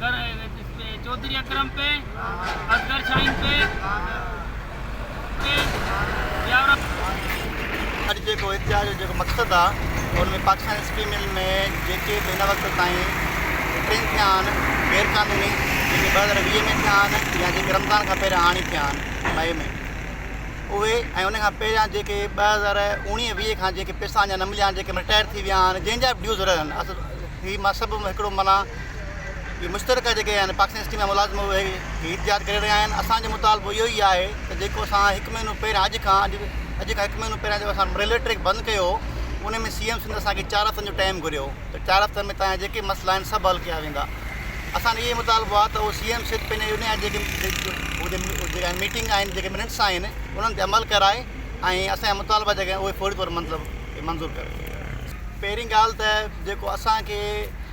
ڪر اي ويد پي چوڌري اڪرم پي اصغر شاهين پي پي يارب اڄ جيڪو اتحاد جو جيڪو مقصد آ ان ۾ پاڪستان اسپين مل ۾ جيڪي به هن وقت تائين ٽن ٿيا آهن غير قانوني جيڪي ٻه هزار ويهه ۾ ٿيا آهن يا جيڪي رمضان کان پهريان هاڻي ٿيا آهن مئي ۾ اهي ۽ ان کان پهريان جيڪي ٻه هزار اوڻيهه ويهه کان جيڪي پيسا اڃا نه مليا آهن جيڪي رٽائر ٿي ويا آهن جنهن جا به ڊيوز رهن اصل هي مذهب هڪڙو منا اهي مشترڪه جيڪي آهن پاڪستان يونيورسٽي ۾ ملازم اهي هي انتظار ڪري رهيا آهن اسان جو مطالبو اهو ئي آهي ته جيڪو اسان هڪ مهينو پهريان اڄ کان اڄ اڄ کان هڪ مهينو پهريان جو اسان ريلوي ٽريڪ بند ڪيو هو ان ۾ سي ايم سنڌ اسان کي چار هفتن جو ٽائيم گهريو ته چار هفتن ۾ تانجا جيڪي مسئلا آهن سڀ حل ڪيا ويندا اسان اهو ئي مطالبو آهي ته سي ايم سنڌ پنهنجي ان جا جيڪي جيڪا ميٽنگ آهن جيڪي منٽس آهن انهن تي عمل ڪرائي ۽ اسانجا مطالبا جيڪي آهن اهي فوري طور مطلب منظور ڪري پهرين ڳالهه ته جيڪو اسانکي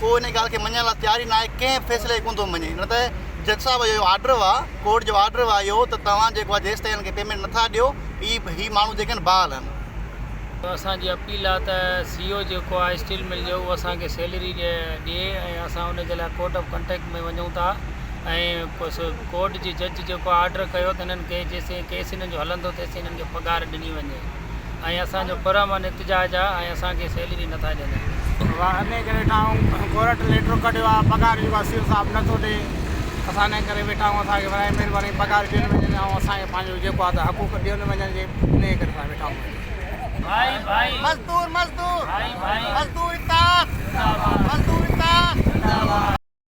ڪو ان ڳالهه کي مڃڻ لاء تيار ئي ناهي، ڪنهن فيصلي کي ڪونه ٿو مڃي، نه ته جج صاحب جو آرڊر هو، ڪورٽ جو آرڊر هو اهو ته توهان جيڪو آهي جيستائين هن کي پيمينٽ نٿا ڏيو هي هي ماڻهو جيڪي آهن بحال آهن. سو اسان جي اپيل آهي ته سي او جيڪو آهي اسٽيل مل جو اهو اسان کي سيلري ڏي ۽ اسان ان جي لاء ڪورٽ آف ڪنٽيڪٽ ۾ وڃون ٿا ۽ ڪورٽ جي جج جيڪو آرڊر ڪيو ته هنن کي جيستائين ڪيس هنن جو هلندو تيستائين هنن کي پگهار ڏني وڃي. ۽ اسان جو پر امن احتجاج آ ۽ اسان کي سيلري نه ٿا ڏين. واه انهي ڪري ويٺا آهون ڪورٽ ليٽر ڪڍيو آ پگهار جيڪو آ سي او صاحب نه ٿو ڏي اسان انهي ڪري ويٺا آهون اسان کي براهي مهرباني پگهار ڏين وڃن ۽ اسان کي پنهنجو جيڪو آ ته حقوق ڏين وڃن جي انهي ڪري اسان ويٺا آهون اڄ. مزدور مزدور مزدور اتحاد زنداباد مزدور اتحاد زنداباد.